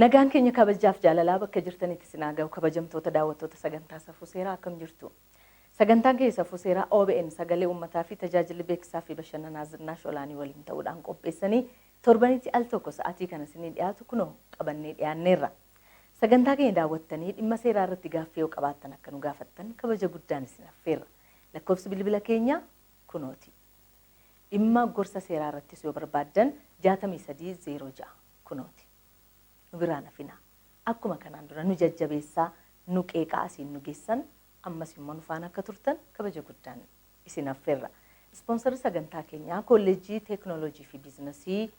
Nagaan keenya kabajaaf jaalalaa bakka jirtanitti isin haa ga'u kabajamtoota daawwattoota sagantaa safuu seeraa akkam jirtu. Sagantaan keenya safuu seeraa OBN sagalee uummataa fi tajaajilli beeksisaa fi bashannanaa zinnaash olaanii waliin ta'uudhaan qopheessanii torbanitti al tokko sa'aatii kana isinii dhiyaatu kunoo qabannee dhiyaanneerra. Sagantaa keenya daawwattanii dhimma seeraa irratti gaaffii yoo qabaattan akka nu gaafattan kabaja guddaan isin affeerra. Lakkoofsi bilbila keenyaa kunooti. Dhimma gorsa seeraa irrattis yoo barbaaddan 63 06 kunooti. Nu biraa hin hafinaa. Akkuma kanaan dura nu jajjabeessaa, nu qeeqaa asiin nu geessan ammas immoo nu faana akka turtan kabaja guddaan isin affeerra. Ispoonsarri sagantaa keenyaa Koolleejjii Teeknooloojii fi Biiznasii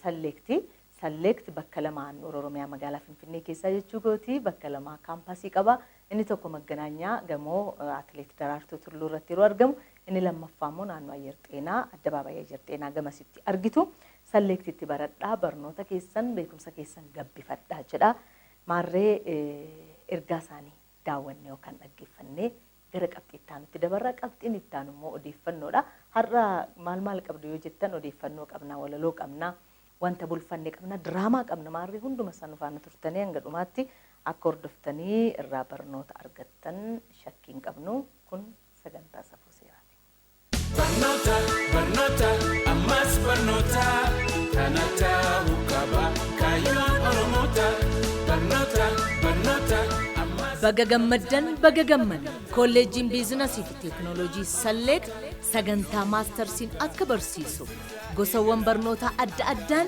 Salleekti, Select, bakka lama handhuura Oromiyaa magaalaa Finfinnee keessaa jechuu kooti. Bakka lama kaampaasii qaba. Inni tokko Magganaanyaa gamoo Atileet Daraartuu Tulluu irratti yeroo argamu, inni lammaffaa immoo naannoo Ayyer Xeenaa, Addabaabayii Ayyer Xeenaa gamasitti argitu. Select itti baradhaa, barnoota keessan, beekumsa keessan gabbifadhaa jedha. Maarree ergaa isaanii daawwannee yookaan dhaggeeffannee Gara qabxii itti aanutti dabarra. Qabxiin itti aanu immoo odeeffannoodha. Har'a maal maal qabdu yoo jettan odeeffannoo qabna, walaloo qabna, wanta bulfanne qabna, diraamaa qabna. Maarree hunduma isaa nu faana turtanii hanga dhumaatti akka hordoftanii irraa barnoota argattan shakkii hin qabnu. Kun sagantaa safuu seeraati. Barnoota barnoota ammas barnoota kana ta'u qaba kaayyoon oromoota barnoota barnoota ammas. Baga gammaddan baga gammanne kolleejjiin biizinasii fi teeknooloojii Salleet sagantaa maastarsiin akka barsiisu gosawwan barnootaa adda addaan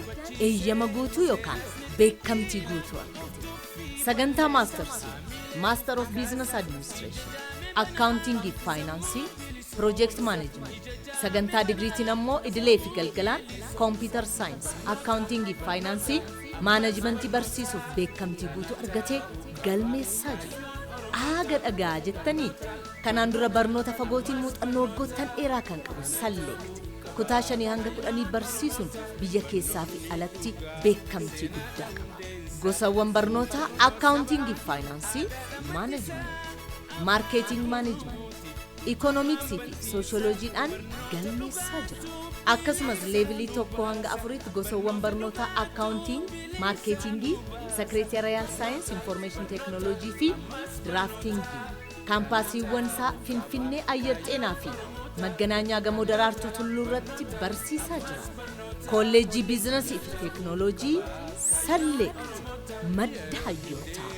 eeyyama guutuu yookaan beekamtii guutuu argate. Sagantaa Maastarsii, Master of Business Administration, Akkaawuntiingii fi Faayinaansii, Project Management, sagantaa digriitiin ammoo idilee fi galgalaan Computer Science, Akkaawuntiingii fi Faayinaansii, Maanajimentii barsiisuuf beekamtii guutuu argatee galmeessaa jira. Aaga dhagaa jettanii kanaan dura barnoota fagootiin muuxannoo waggoottan dheeraa kan qabu Salleekt kutaa shanii hanga kudhanii barsiisuun biyya keessaa fi alatti beekamtii guddaa qaba. Gosawwan barnootaa Accounting fi Faayinaansii, Management, Marketing Management, Economics fi Sociology dhaan galmeessaa jira. Akkasumas leevilii 1 hanga 4tti gosawwan barnootaa Accounting, Marketing, Secretarial Science, Information Technology fi Drafting. Kaampaasiiwwan isaa Finfinnee Ayyar Xeenaa fi Magganaanyaa Gamoo Daraartuu Tulluu irratti barsiisaa jira. Koolleejjii Biizinasii fi Teeknooloojii Salleekt madda hayyootaa.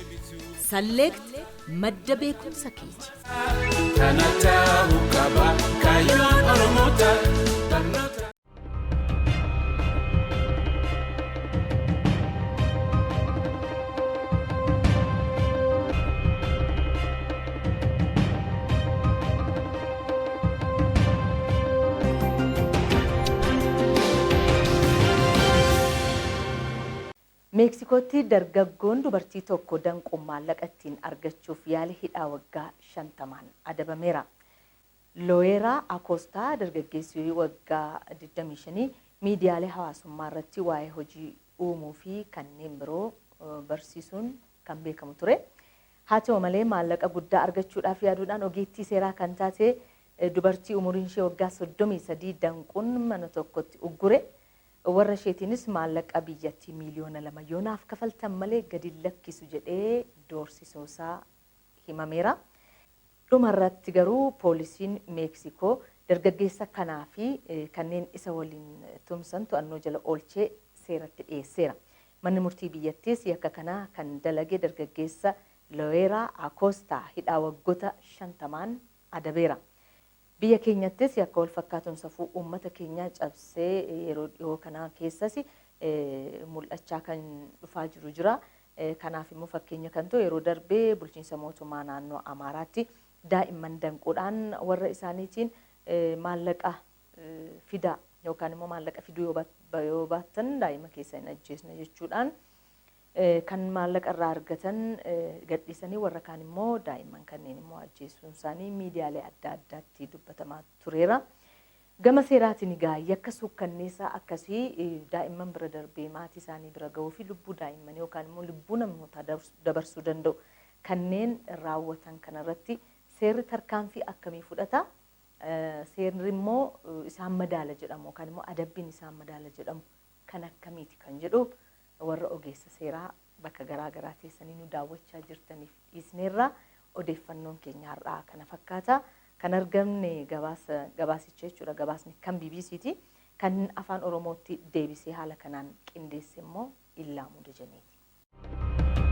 Salleekt madda beekumsa keeti. Kana ta'uu qaba kaayyoon Oromoo ta'a. Meeksikootti dargaggoon dubartii tokko danquun maallaqa ittiin argachuuf yaale hidhaa waggaa 50n adabameera. Looyeraa Akoostaa dargaggeessi waggaa 25 miidiyaalee hawaasummaa irratti waa'ee hojii uumuu fi kanneen biroo barsiisuun kan beekamu ture. Haa ta'u malee maallaqa guddaa argachuudhaaf yaaduudhaan ogeettii seeraa kan taate dubartii umuriin ishee waggaa 33 danquun mana tokkotti uggure. Warra isheetiinis maallaqa biyyattii miiliyoona lama yoo naaf kafaltan malee gadi hin lakkisu jedhee doorsisuusaa himameera. Dhuma irratti garuu poolisiin Meeksikoo dargaggeessa kanaa fi kanneen isa waliin tumsan to'annoo jala oolchee seeratti dhiyeesseera. Manni murtii biyyattiis yakka kana kan dalage dargaggeessa Loeeraa Akoostaa hidhaa waggota shantamaan adabeera. Biyya keenyattis yakka walfakkaatuun safuu uummata keenyaa cabsee yeroo dhihoo kana keessas mul'achaa kan dhufaa jiru jira. Kanaaf immoo fakkeenya kan ta'u yeroo darbe bulchiinsa mootummaa naannoo Amaaraatti daa'imman danquudhaan warra isaaniitiin maallaqa fidaa yookaan immoo maallaqa fiduu yoo baattan daa'ima keessan hin ajjeesna jechuudhaan Kan maallaqa irraa argatan gadhiisanii warra kaan immoo daa'imman kanneen immoo ajjeesuun isaanii miidiyaalee adda addaatti dubbatamaa tureera. Gama seeraatiin egaa yakka suukkanneessaa akkasii daa'imman bira darbee maatii isaanii bira gahuu fi lubbuu daa'immanii yookaan immoo lubbuu namootaa dabarsuu danda'u kanneen raawwatan kana irratti seerri tarkaanfii akkamii fudhata? Seerri immoo isaan madaala jedhamu yookaan immoo adabbiin isaan madaala jedhamu kan akkamiiti kan jedhu Warra ogeessa seeraa bakka garaa garaa teessanii nu daawwachaa jirtaniif dhiisneerra. Odeeffannoon keenya har'aa kana fakkaata. Kan argamne gabaasa gabaasicha jechuudha gabaasni kan BBC ti. Kan afaan Oromootti deebisee haala kanaan qindeesse immoo Illaamuu Dejenee ti.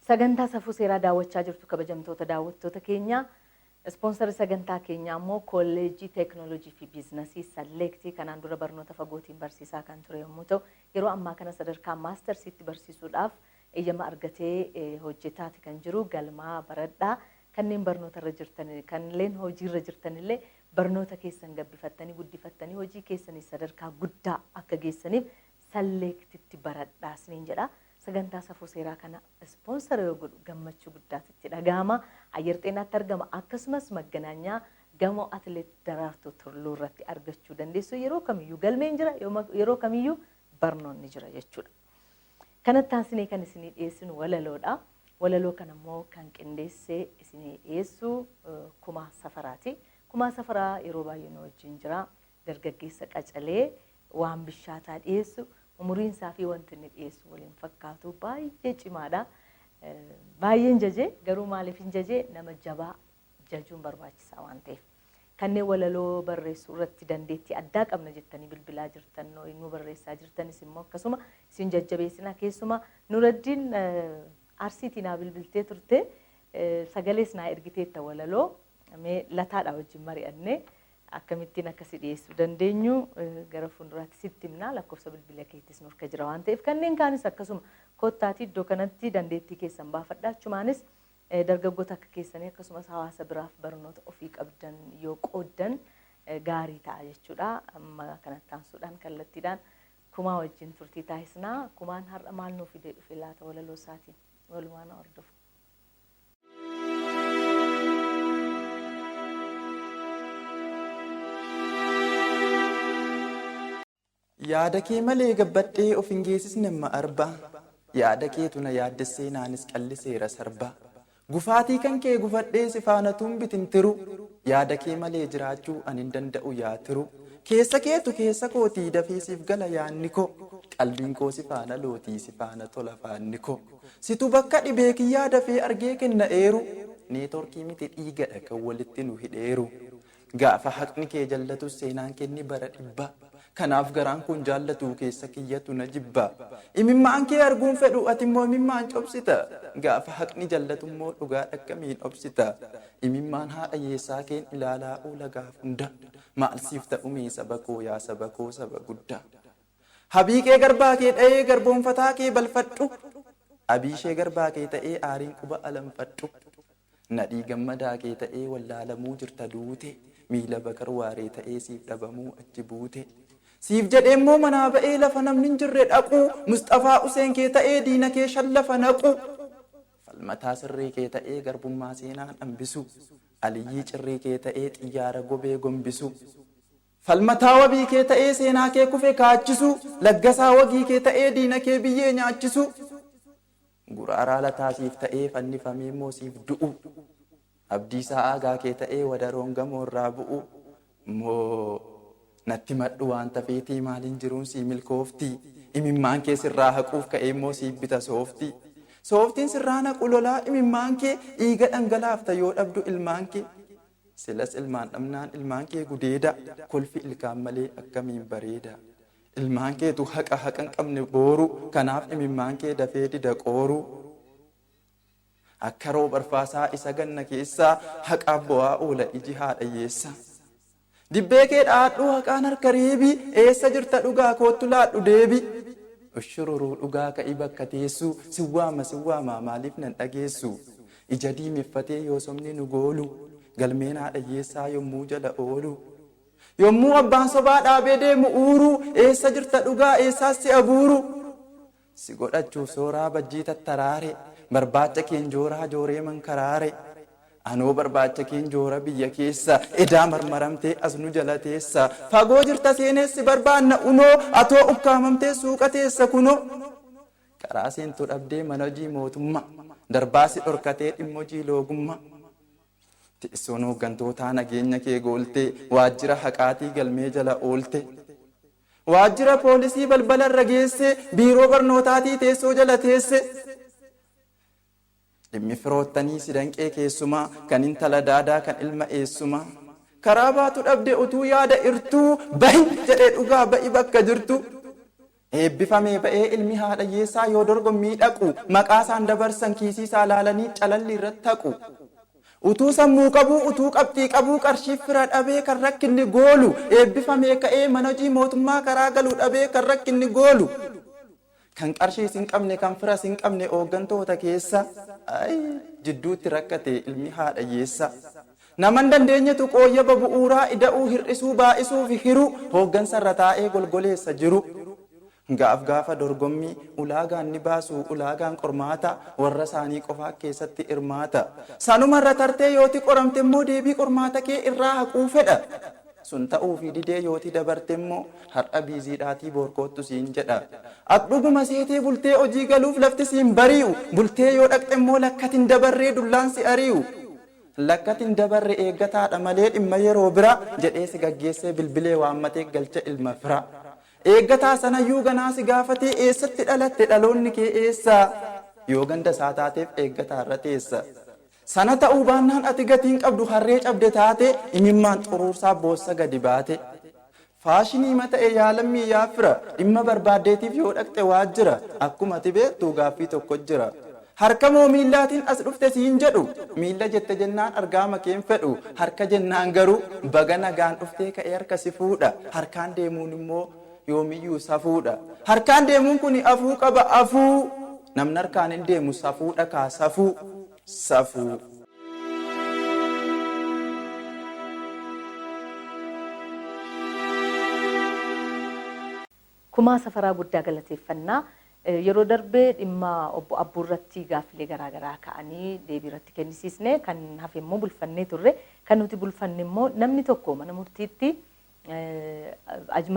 Sagantaa safuu seeraa daawwachaa jirtu kabajamtoota daawwattoota keenya. Ispoonsarri sagantaa keenyaa immoo kolleejjii teeknooloojii fi biiznasii Salleektii kanaan dura barnoota fagootiin barsiisaa kan ture yommuu ta'u yeroo ammaa kana sadarkaa maastarsiitti barsiisuudhaaf eeyyama argatee hojjetaati kan jiru galmaa baradhaa Kanneen barnoota irra jirtan, kanleen hojii irra jirtan illee barnoota keessan gabbifattanii, guddifattanii hojii keessaniis sadarkaa guddaa akka geessaniif Select tti baradhaa isiniin jedha. Sagantaa Safuu Seeraa kana sponsor yoo godhu gammachuu guddaatu itti dhagahama. Ayyar Xeenaatti argama. Akkasumas Magganaanyaa gamoo Atileet Daraartuu Turluu irratti argachuu dandeessu. Yeroo kamiyyuu galmeen jira, yeroo kamiyyuu barnoonni jira jechuudha. Kanatti aansinee kan isinii dhiyeessinu walaloodha. Walaloo kana immoo kan qindeessee isinii dhiyeessu Kumaa Safaraati. Kumaa Safaraa yeroo baay'ee nu wajjin jira. Dargaggeessa qacalee waan bishaataa dhiyeessu umuriin isaa fi wanti inni dhiyeessu wal hin fakkaatu baay'ee cimaadha. Baay'een jaje garuu maaliif hin jaje nama jabaa jajuun barbaachisaa waan ta'eef. Kanneen walaloo barreessuu irratti dandeettii addaa qabna jettanii bilbilaa jirtan, nuu barreessaa jirtanis immoo akkasuma isin jajjabeessina. Keessumaa Nuraddiin Arsiitii naa bilbiltee turte, sagalees naa ergiteetta walaloo. Mee Lataadhaa wajjin mari'annee akkamittiin akka si dhiyeessuu dandeenyu gara fuulduraatti sitti himna. Lakkoofsa bilbila keetis nurka jira waan ta'eef. Kanneen kaanis akkasuma kottaatii iddoo kanatti dandeettii keessan baafadhaa. Achumaanis Dargaggoota akka keessanii akkasumas hawaasa biraaf barnoota ofii qabdan yoo qooddan gaarii ta'a jechuudha. Amma kanatti aansuudhaan kallattiidhaan Kumaa wajjin turtii taasisna. Kumaan har'a maal nuu fidee dhufe laata walaloo isaatiin? Walumaa na hordofa. Yaada kee malee gabbadhee of hin geesisne amma arba Yaada keetu na yaaddessee naanis calliseera sarba Gufaatii kan kee gufadhee si faana tuun bitintiru Yaada kee malee jiraachuu an hin danda'u yaa tiru Keessa keetu keessa kooti dafii siif gala yaanni ko Qalbiin koo si faana looti si faana tola faanni ko Situ bakka dhibee kiyyaa dafee argee kenna eeru Network miti dhiigadha kan walitti nu hidheeru Gaafa haqni kee jallatus seenaan kee ni bara dhibba Kanaaf garaan koon jaallatu keessa kiyyatu na jibba Imimmaan kee arguun fedhu atimmoo imimmaan cobsita Gaafa haqni jallatummoo dhugaadha akkamiin obsita Imimmaan haadha hiyyeessaa keen ilaalaa oola gaaf hunda Maal siif ta'umee saba koo yaa saba koo saba gudda Habii kee garbaa kee dhayee garboonfataa kee balfadhu Abii ishee garbaa kee ta'ee aariin quba alanfadhu Nadhii gammadaa kee ta'ee wallaalamuu jirta duute miila bakar waaree ta'ee siif dhabamuu achi buute Siif jedhee immoo manaa ba'ee lafa namni hin jirre dhaquu Musxafaa Huseen kee ta'ee diina kee shan lafa naquu Falmataa sirrii kee ta'ee garbummaa seenaan hambisuu Aliyyii cirrii kee ta'ee xiyyaara gobee gombisuu Falmataa wabii kee ta'ee seenaa kee kufe kaachisuu Laggasaa wagii kee ta'ee diina kee biyyee nyaachisuu Guraaraa lataa siif ta'ee fannifamee immoo siif du'uu Abdiisaa aagaa kee ta'ee wadaroon gamoo irraa bu'uu Immoo natti himadhu waanta feetii maaliin jiruun sii milkooftii Imimmaan kee sirraa haquuf ka'ee immoo siif bita sooftii Sooftiin sirraa naqu lolaa imimmaan kee dhiiga dhangalaafta yoo dhabdu ilmaan kee Silas ilmaan dhabnaan ilmaan kee gudeedaa Kolfi ilkaan malee akkamiin bareedaa Ilmaan keetu haqa haqa hin qabne booru kanaaf imimmaan kee dafee dida qooru Akka roob arfaasaa isa ganna keessaa haqaaf bo'aa oola iji haadha hiyyeessaa Dibbee kee dha'adhuu haqaan harka reebii eessa jirta dhugaa koottu laadhu deebii Ushururuu dhugaa ka'i bakka teessuu sin waama sin waamaa maaliif nan dhageessu Ija diimeffatee yoo sobni nu goolu galmeen haadha hiyyeessaa yommuu jala oolu Yommuu abbaan sobaa dhaabee deemu uuruu Eessa jirta dhugaa eessaas si abuuruu Si godhachuuf sooraa bajjii tattaraare Barbaacha keen jooraa jooree mankaraare Anoo barbaacha keen joora biyya keessa Edaa marmaramtee as nu jala teessa Fagoo jirta seenees si barbaanna unoo Atoo ukkaamamtee suuqa teessa kunoo Karaa seentu dhabdee mana hojii mootummaa Darbaa si dhorkatee dhimma hojii loogummaa Teessoon hooggantootaa nageenya kee gooltee, waajjira haqaatii galmee jala oolte. Waajjira poolisii balbala irra geessee, biiroo barnootaatii teessoo jala teesse. Dhimmi firoottanii si danqee keessumaa, kan intala daadaa kan ilma eessumaa. Karaa baatu dhabde utuu yaada irtuu, bahi jedhee dhugaa ba'i bakka jirtuu. Eebbifamee ba'ee ilmi haadha hiyyeessaa yoo dorgommii dhaqu maqaasaan dabarsan kiisiisaa laalanii calalli irra taqu. Utuu sammuu qabuu utuu qabxii qabuu qarshiif fira dhabee kan rakkinni goolu eebbifamee ka'ee mana hojii mootummaa karaa galu dhabee kan rakkinni goolu kan qarshiis hin qabne kan firas hin qabne ooggantoota keessa ay jidduutti rakkate ilmi haadha hiyyeessaa. Nama hin dandeenyetu qooyyaba bu'uuraa ida'uu, hir'isuu, baay'isuu fi hiruu hooggansa irra taa'ee golgoleessa jiru. Gaaf gaafa dorgommii ulaagaan ni baasu, ulaagaan qormaataa warra isaanii qofaa kkeessatti hirmaata. Sanuma irra tartee yooti qoramte immoo deebii qormaata kee irraa haquu fedha. Sun ta'uufii didee yooti dabarte immoo har'a biiziidhaatii boor koottu siin jedha. At dhuguma seetee bultee hojii galuuf lafti si hin barii'u. Bultee yoo dhaqxe immoo lakkati hin dabarree dullaan si arii'u. Lakkati hin dabarre eeggataa dha malee dhimma yeroo biraa jedhee si gaggeessee bilbilee waammatee galcha ilma firaa. Eeggataa sanayyuu ganaa si gaafatee eessatti dhalatte dhaloonni kee eessa? Yoo ganda isaa taateef eeggataa irra teessa. Sana ta'uu baannaan ati gatii hin qabdu harree cabde taatee imimmaan xuruursaa boossa gadi baate. Faashiniima ta'e yaa lammii yaa fira dhimma barbaaddeetiif yoo dhaqxe waajjira akkuma ati beektu gaaffii tokko jira. Harka moo miillaatiin as dhufte siin jedhu. Miilla jette jennaan argaama kee hin fedhu. Harka jennaan garuu baga nagaan dhuftee ka'ee harka si fuudha. Harkaan deemuun immoo yoomiyyuu safuudha. Harkaan deemuun kuni afuu qaba afuu. Namni harkaan hin deemu safuudha kaa safuu. safuu. Kumaa Safaraa guddaa galateeffanna. Yeroo darbe dhimma Obbo Abbuu irratti gaaffilee garaa garaa ka'anii deebii irratti kennisiisne. Kan hafe immoo bulfannee turre. Kan nuti bulfanne immoo namni tokko mana murtiitti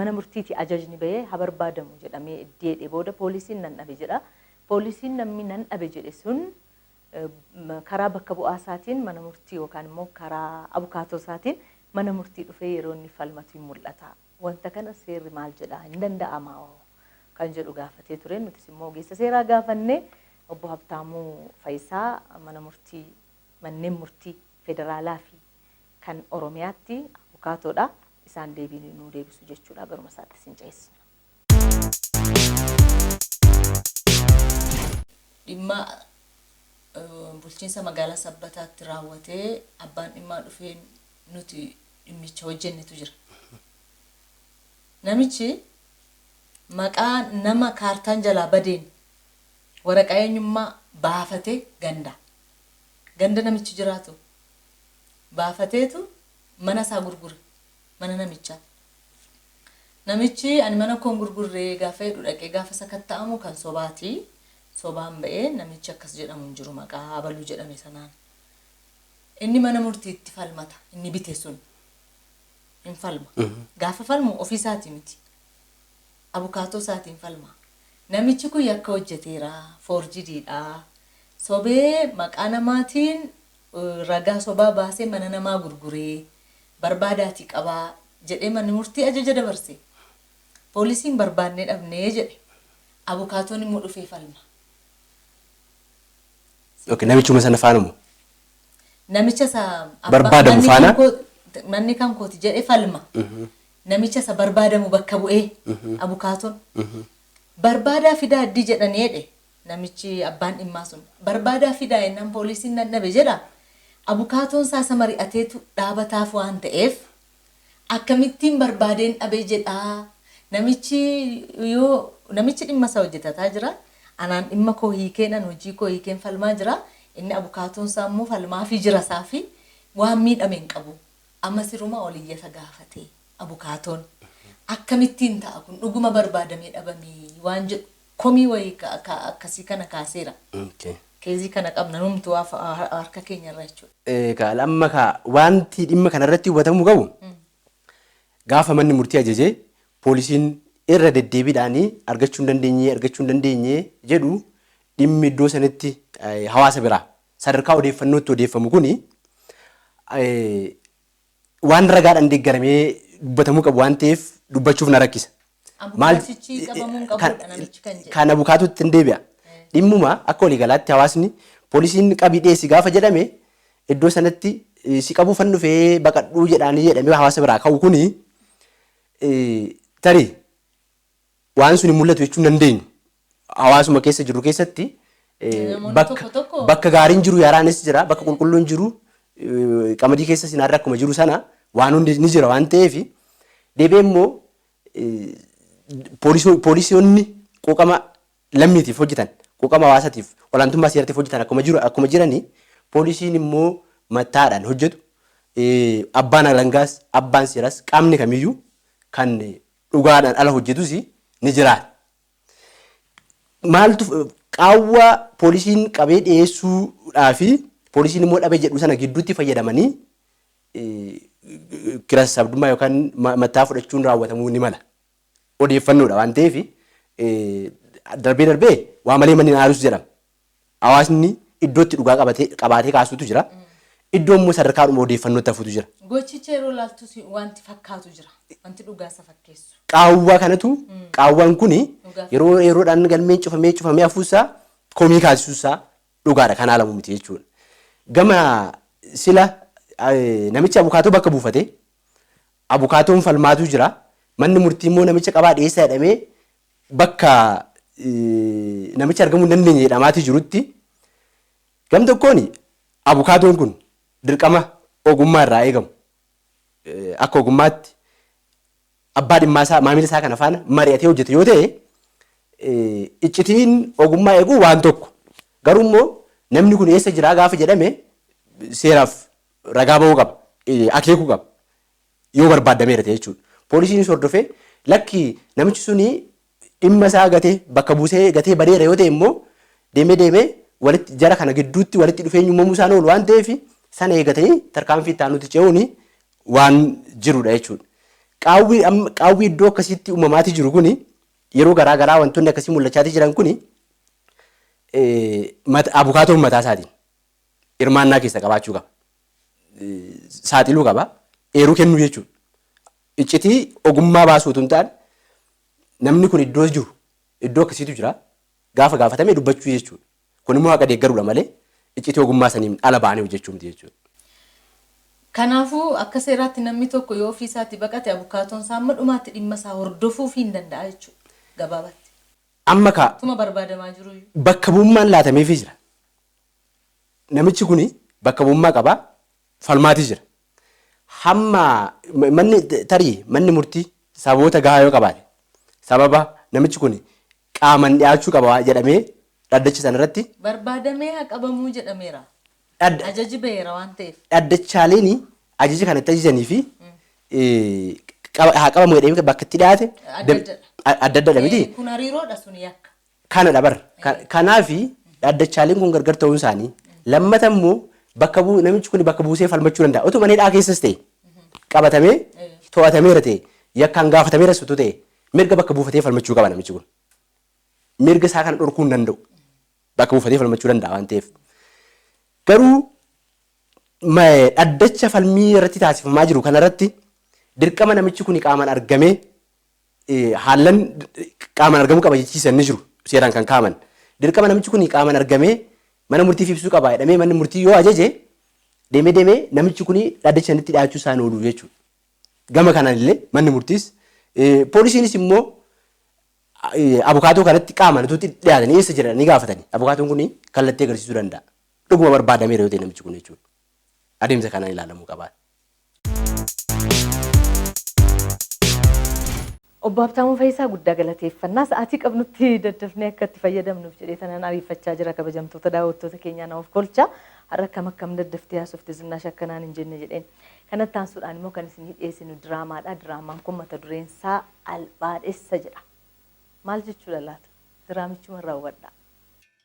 mana murtiitii ajajni ba'ee ha barbaadamu jedhamee eddi jedhee booda poolisiin nan dhabe jedha. Poolisiin namni nan dhabe jedhe sun karaa bakka bu'aa isaatiin mana murtii yookaan immoo karaa abukaatoo isaatiin mana murtii dhufee yeroo inni falmatu hin mul'ata. Wanta kana seerri maal jedha? Hin danda'amaa hoo? Kan jedhu gaafatee ture. Nutis immoo ogeessa seeraa gaafannee obbo Habtaamuu Fayisaa mana murtii manneen murtii federaalaa fi kan Oromiyaatti abukaatoodha. Isaan deebii nuu deebisu jechuudha garuma isaatti isin ceessina. Dhimma Bulchiinsa Magaalaa Sabbataatti raawwatee abbaan dhimmaa dhufee nuti dhimmicha hojjennetu jira. Namichi maqaa nama kaartaan jalaa badeen waraqaa eenyummaa baafatee gandaa, ganda namichi jiraatu baafateetu mana isaa gurgure. mana namichaa. Namichi ani mana koo hin gurgurre gaafa jedhu dhaqee gaafa sakatta'amu kan sobaati. Sobaan ba'ee namichi akkas jedhamu hin jiru maqaa abaluu jedhame sanaan. Inni mana murtiitti falmata inni bite sun. Hin falma. Gaafa falmu ofii isaatii miti. Abukaatoo isaatiin falma. Namichi kun yakka hojjeteera foorjidiidha. Sobee maqaa namaatiin eh, ragaa sobaa baasee mana namaa gurguree barbaadaatii qabaa jedhee manni murtii ajaja dabarse. Poolisiin barbaadnee dhabne jedhe. Abukaatoon immoo dhufee falma. Okay, namichuma sana faana moo? Namicha isa abba- Barbaadamu manni faana? kan koo- manni kan kooti jedhe falma. Namicha isa barbaadamu bakka bu'ee abukaatoon. Barbaadaa fidaa addii jedhanii jedhe Namichi abbaan dhimmaa sun barbaadaa fidaa jennaan pooliisiin nan dhabe jedha. Abukaatoon isaa isa mari'ateetu dhaabataaf waan ta'eef akkamittiin barbaadeen dhabe jedha. Namichi yoo namichi dhimma isaa hojjetataa jira. Anaan dhimma koo hiikeen an hojii koo hiikeen falmaa jira. Inni abukaatoon isaa immoo falmaafii jira isaafi waan miidhame hin qabu. Amma siruma ol iyyata gaafate abukaatoon. Akkamittiin ta'a kun dhuguma barbaadamee dhabamee waan jedhu komii wayii ka, ka, akkasii kana kaaseera. Ok. Keezii kana qabna numtuu af, har, harka keenya irra jechuudha. Ee, ka, amma ka, waanti dhimma kana irratti hubatamuu qabu, gaafa manni murtii ajaje, poolisiin irra deddeebiidhaan argachuu hin dandeenye, argachuu hin dandeenye jedhu, dhimmi iddoo sanitti ee, hawaasa biraa, sadarkaa odeeffannootti odeeffamu kuni, ee, waan ragaadhaan deeggaramee dubbatamuu qabu waan ta'eef dubbachuuf na rakkisa. Maal- Abukaatichi qabamuu hin kan- qabuudha namichi kan jedhe. Kan abukaatuutti hin deebi'a. Dhimmuma akka waliigalaatti hawaasni poolisiin qabii dhiyeessi gaafa jedhame iddoo sanatti eh, si qabuu fan dhufee baqadhuu jedhaanii jedhamee hawaasa biraa ka'u kuni eh, tarii waan sun hin mul'atu jechuun dandeenyu. hawaasuma keessa jirru keessatti eh, Namoonni bakka tokko tokko- bakka gaariin jiru yaraanis jira bakka qulqulluun jiru eh, qamadii keessa sinaarra akkuma jiru sana waan hundi ni jira waan ta'eef deebi'ee immoo eh, poolisoo- poolisoonni quuqama lammiitiif hojjetan quuqama hawaasaatiif olaantummaa seeratiif hojjetan akkuma jiru akkuma jiranii poolisiin immoo mattaadhaan hojjetu eh, abbaan alangaas abbaan seeras qaamni kamiyyuu kan eh, dhugaadhaan ala hojjetus ni jiraata. maaltu qaawwa poolisiin qabee dhiyeessuudhaa fi poolisiin immoo dhabe jedhu sana gidduutti fayyadamanii kira sabdummaa yookaan mataa fudhachuun raawwatamuu ni mala. Odeeffannoodha waan ta'eef darbee darbee waa malee manni aarus jedhama. Hawaasni iddootti dhugaa qabatee qabaatee kaasutu jira. Iddoo immoo sadarkaadhuma odeeffannootti hafutu jira. Gochicha yeroo ilaaltu si- wanti fakkaatu jira. Wanti dhugaa isa fakkeessu. Qaawwaa kanatu qaawwaan kuni Dhugaa. yeroo yeroodhaan galmeen cufamee cufamee hafuusaa komii kaasisuusaa dhugaadha kan haalamu miti jechuudha. Gama sila eh, namichi abukaatoo bakka buufate abukaatoon falmaatu jira. Manni murtii immoo namicha qabaa dhiyeessaa jedhamee bakka namichi argamuu hin dandeenye jedhamaatii jirutti gam tokkoon abukaatoon kun dirqama ogummaa irraa eegamu akka ogummaatti abbaa dhimmaa isaa maamila isaa kana faana mari'atee hojjete yoo ta'e iccitiin ogummaa eeguu waan tokko garuu immoo namni kun eessa jiraa gaafa jedhame seeraaf ragaa ba'uu qaba akeekuu qaba. yoo barbaaddameera ta'e jechuudha. Poolisiinis hordofee lakki namichi suni dhimma isaa gatee bakka buusee gatee badeera yoo ta'e immoo deemee deemee walitti jara kana gidduutti walitti dhufeenyi uumamuu isaan oolu waan ta'eef sana eegatanii tarkaanfii itti aanutti ce'uun waan jirudha jechuudha. Qaawwi amma qaawwi iddoo akkasiitti uumamaatii jiru kuni yeroo garaa garaa wantoonni akkasii mul'achaatii jiran kuni eh, mat- abukaatoon mataa isaatiin hirmaannaa keessa qabaachuu qaba. saaxiluu qaba. Eeruu kennuu jechuudha. Iccitii ogummaa baasuu utuu hin taane namni kun iddoo jiru iddoo akkasiitu jira gaafa gaafatame dubbachuu jechuudha. Kun immoo haqa deeggaruudha malee iccitii ogummaa saniin ala ba'anii hojjechuu miti jechuudha. Kanaafuu akka seeraatti namni tokko yoo ofii isaatii baqate abukaatoon isaa amma dhumaatti dhimma isaa hordofuufii hin danda'a jechuudha gabaabatti. Amma kaa. Tuma barbaadamaa jiruyyuu. Bakka bu'ummaan laatameefii jira. namichi kun bakka bu'ummaa qaba falmaatii jira. Hamma manni tarii manni murtii sababoota gahaa yoo qabaate sababa namichi kun qaaman dhiyaachuu qaba jedhamee dhaddacha sana irratti Barbaadamee haa qabamuu jedhameera. dhadda- Ajaji baheera waan ta'eef. dhaddachaaleen ajaja kana itti ajajanii fi eh, qaba- haa qabamu jedhamee bakka itti dhiyaate Adda dam- addadha. a- adda addadha miti. Eh, Kun hariiroodha sun yakka. kanadha bar. Kanaafi dhaaddachaaleen kun gargar ta'uun isaanii lammata immoo bakka buu namichi kun bakka buusee falmachuu danda'a. Otoo manni hidhaa keessas ta'e qabatamee to'atameera ta'e yakkaan gaafatameeras utuu ta'e mirga bakka buufatee falmachuu qaba namichi kun. Mirga isaa kana dhorkuu hin danda'u. Bakka buufatee falmachuu danda'a waan ta'eef. Garuu ma- dhaddacha falmii irratti taasifamaa jiru kanarratti dirqama namichi kun qaamaan argamee haallan qaaman argamuu qaba jechiisan ni jiru seeraan kan kaaman. Dirqama namichi kun qaaman argamee mana murtiif ibsuu qaba jedhamee manni murtii yoo ajaje deemee deemee namichi kun dhaddacha sanitti dhiyaachuu isaan oolu jechuudha. Gama kanaan illee manni murtiis poolisiinis immoo abukaatoo kanatti qaaman utuu dhiyaatanii eessa jira ni gaafatanii abukaatoon kun kallattii agarsiisuu danda'a. Dhuguma barbaadameera yoo ta'e namichi kun jechuudha. Adeemsa kanaan ilaalamuu qaba. Obbo Habtaamuu Fayisaa guddaa galateeffanna. Sa'aatii qabnutti daddafnee akka itti fayyadamnuuf jedhee tanan ariifachaa jira kabajamtoota daawwattoota keenyaa na of kolcha. Har'a akkam akkam daddaftee haasofte Zinnaash akka naan hin jenne jedheen. Kana itti aansuudhaan immoo kan isinii dhiyeessinu diraamaadha. Diraamaan kun mata dureen isaa Albaadhessa jedha. Maal jechuudha laata? Diraamichuma raawwadhaa.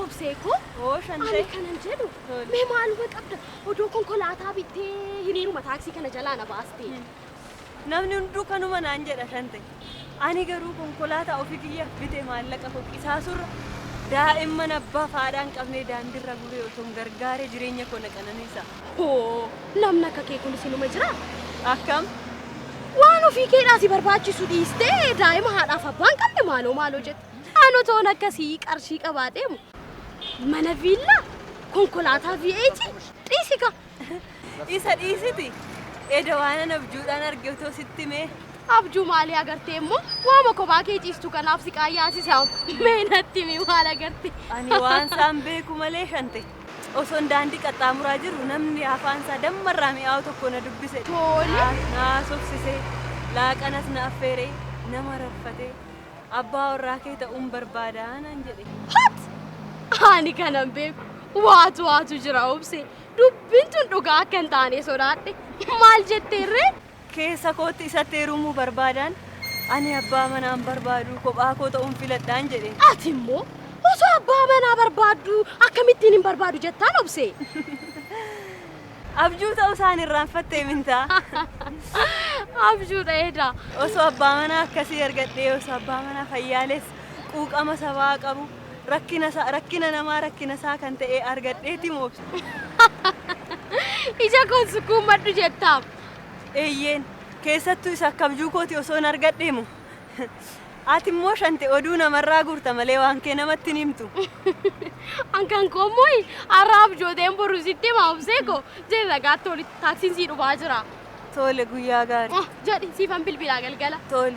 Obsee koo Oo shan ani ta'e. kanan jedhu Tole. mee maaluma qabda odoo konkolaataa bittee hiriiruma taaksii kana jalaa na baastee. Namni hunduu kanuma naan jedha shan ta'e. Ani garuu konkolaataa ofii kiyyaaf bite maallaqa koo qisaasurra daa'imman abbaa fi haadhaa hin qabne daandiirra gubee osoo hin gargaaree jireenya koo na qananiisa. Hoo! Namni akka kee kunis inuma jiraa? Akkam? Waan ofii keedhaa si barbaachisu dhiistee daa'ima haadhaaf abbaa hin qabne maaloo maaloo jette. Ano toon akkasii qarshii qabaa deemu. Mana viillaa, konkolaataa V8 dhiisi ka. Isa dhiisiti. Eda waanan abjuudhaan arge otoo sitti mee. Abjuu maalii agartee immoo waama kophaa kee ciistu kanaaf si qaayyaasisa. Mee natti himi maal agarte? Ani waan isaan beeku malee shante. Osoon daandii qaxxaamuraa jiruu namni afaan isaa damma irraa mi'aawu tokko na dubbise. Tole. Na haasofsise, laaqanas na affeere, na mararfate. Abbaa warraa kee ta'uun barbaada naan jedhe. Hat! Ani kanan beeku waatu waatu jira obse. Dubbiin tun dhugaa akka hin taane sodaadhe. Maal jetteerree? Keessa kootti isatti heerumuu barbaadaan, Ani abbaa manaa hin barbaadu, kophaa koo ta'uun filadhaan jedhe. Ati immoo osoo abbaa manaa barbaadduu akkamittiin hin barbaadu jettaan obsee? Abjuu ta'uu isaa hin irraanfattee mintaa? Abjuu dha edaa. Osoo abbaa manaa akkasii argadhee, osoo abbaa manaa fayyaaleessa, quuqama sabaa qabu, rakkina isaa, rakkina namaa rakkina isaa kan ta'e argadheeti moobsa. Ija koon sukkuummadhu jettaam. Eeyyeen, keessattuu isa akka abjuu kooti osoon argadhee moo! Ati immoo Shante oduu namarraa guurta malee waan kee namatti hin himtu. An kan koo immoo har'a abjooteen boru sitti hima obsee koo. Jedhi ragaatti olitti taaksiin sii dhufaa jira. Tole guyyaa gaarii. Jedhi siifan bilbilaa galgala. Tole.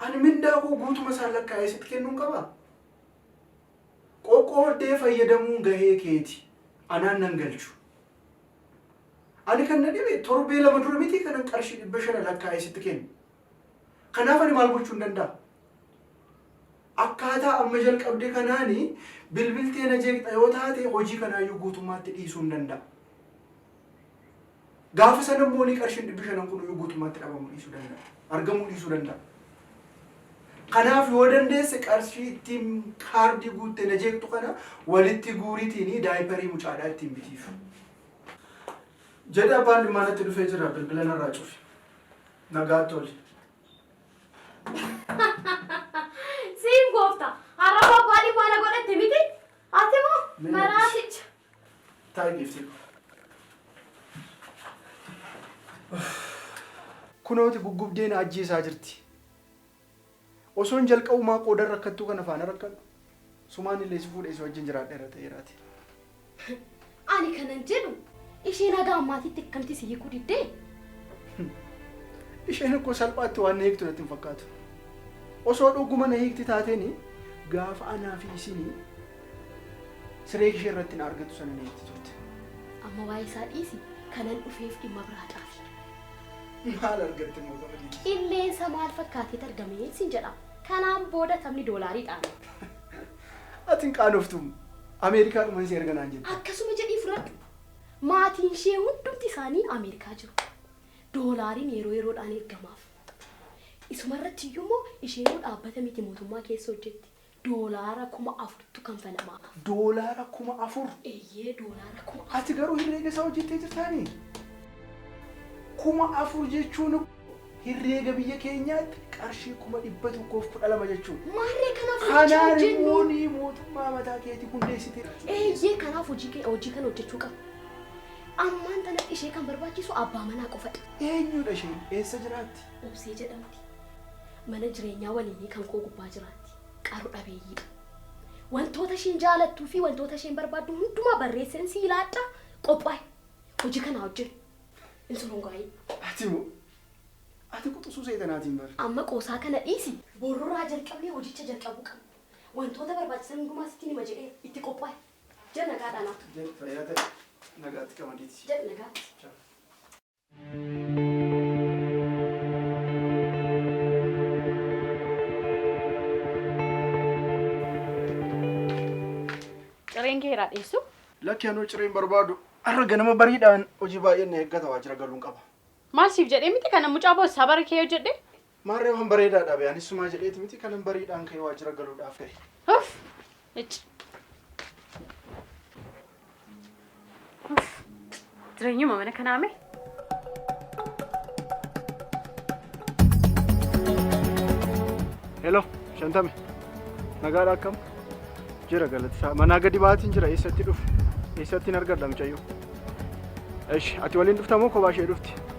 Ani mindaa koo guutuma isaa lakkaa'ee sitti kennuun qabaa? Qoqqooddee fayyadamuun gahee keeti. Anaan nan galchu. Ani kan na dhibe torbee lama dura mitii kanan qarshii dhibba shana lakkaa'ee sitti kenne. Kanaaf ani maal gochuun danda'a? Akkaataa amma jalqabde kanaani bilbiltee na jeeqxa yoo taate hojii kanaayyuu guutummaatti dhiisuun danda'a. Gaafa sana immoo ni qarshiin dhibbi shanan kun iyyuu guutummaatti dhabamuu dhiisuu danda'a. Argamuu dhiisuu danda'a. Kanaaf yoo dandeesse qarshii ittiin kaardii guuttee na jeeqxu kana walitti guuriitiin daayiparii mucaadhaa ittiin bitiif. Jedhe abbaan dhimmaa natti dhufee jira bilbila narraa cufi. Nagaa toli. Siin goofta har'a bobbaa dhimmaa na godhatte miti? Ati moo maraaticha? Taa'i deebisee dhufa. Kunooti guggubdee na ajjeesaa jirti. Osoon jalqabumaa qoodan rakkattuu kana faana rakkadhu. Sumaan illee si fuudhee si wajjin jiraadheera ta'eeraati. Ani kanan jedhu ishee nagaa ammaatitti akkamti si hiikuu diddee? Isheen akkoo salphaatti waan na hiiktu natti hin fakkaatu. Osoo dhuguma na hiikti taateen gaafa anaa fi isin Siree ishee irratti na argatu sana na eegdi turte. Amma waa'ee isaa dhiisi kanan dhufeef dhimma biraa caafi. Maal argatte immoo gama dhiisu? Qilleensa maal fakkaateet argamee sin jedha. Kanaan booda taphni doolaarii dhaana. Ati hin qaanoftu Ameerikaa dhuman si erga naan jette. Akkasuma jedhii fudhadhu. Maatiin ishee hundumti isaanii Ameerikaa jiru. Doolaariin yeroo yeroodhaan ergamaaf. Isuma irratti iyyuu immoo isheenuu dhaabbata miti mootummaa keessa hojjetti. Doolaara kuma afurtu kanfalamaaf. Doolaara kuma afur? Eeyyee, doolaara kuma afur. Ati garuu herreega isaa hojjettee jirtaanii? Kuma afur jechuun herreega biyya keenyaatti qarshii kuma dhibba tokkoo fi kudha lama jechuudha. Maarree kanaaf hojii Kanaan immoo hojjennu. ni mootummaa mataa keetii hundeessite. Eeyyee, kanaaf hojii kee- hojii kana hojjechuu qabna. Ammaan tanatti ishee kan barbaachisu abbaa manaa qofadha. Eenyudha isheen? Eessa jiraatti? Obsee jedhamti. Mana jireenyaa waliinii kan koo gubbaa jiraatti. Qaru dhabeeyyiidha. Wantoota isheen jaalattuu fi wantoota isheen barbaaddu hundumaa barreesseen si ilaadha qophaa'e. Hojii kanaa hojjete. Hin sorongaa'in. Ati moo? Ati quxusuu seexanaatiin bar. Amma qoosaa kana dhiisi. Borroraa jalqabnee hojicha jalqabuu qabna. Wantoota barbaachisan hundumaa sitti nima jedhee itti qophaa'e. Jal nagaadhaan haatu. Jal fayyaa ta'e. Nagaatti qamadii tisi. Jal nagaatti. Ciao. Cireen kee irraa dhiyeessu. Lakki anuu cireen barbaadu har'a ganama bariidhaan hojii baay'een na eeggata waajjira galuun qaba. Maal siif jedhee miti kana mucaa boo sabara kee hojjedhe Maarree waan bareedaa dhaabe anis sumaa jedheeti miti kanan bariidhaan ka'ee waajjira galuudhaaf ka'e. Uff! Icci! Uff! Jireenyuma mana kanaa mee? Hello, shantame. Nagaadha akkam? Jira galatisaa. Manaa gadi baatiin jira eessatti dhufu? Eessatti hin argadha mucayyoo? Esh, ati waliin dhufta moo kophaa ishee dhufti?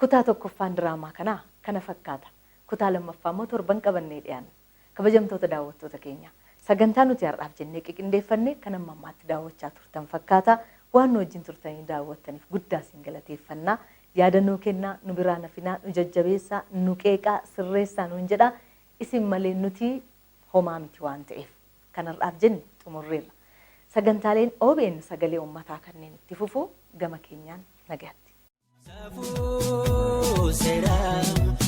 Kutaa tokkoffaan diraamaa kanaa kana fakkaata. Kutaa lammaffaa immoo torban qabannee dhiyaanna. Kabajamtoota daawwattoota keenya, sagantaa nuti har'aaf jennee qiqindeeffanne kan amma ammaatti daawwachaa turtan fakkaata. Waan nu wajjin turtanii daawwattaniif guddaa isin galateeffanna. Yaada nuu kennaa, nu biraa hin hafinaa, nu jajjabeessaa, nu qeeqaa, sirreessaa nuun jedhaa. Isin malee nuti homaa miti waan ta'eef kan har'aaf jenne xumurreerra. Sagantaaleen obn Sagalee Ummataa kanneen itti fufu gama keenyaan nagayatti. Safuu seeraa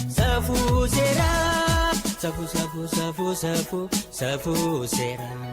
safuu seeraa safuu safuu safuu safuu safuu seeraa.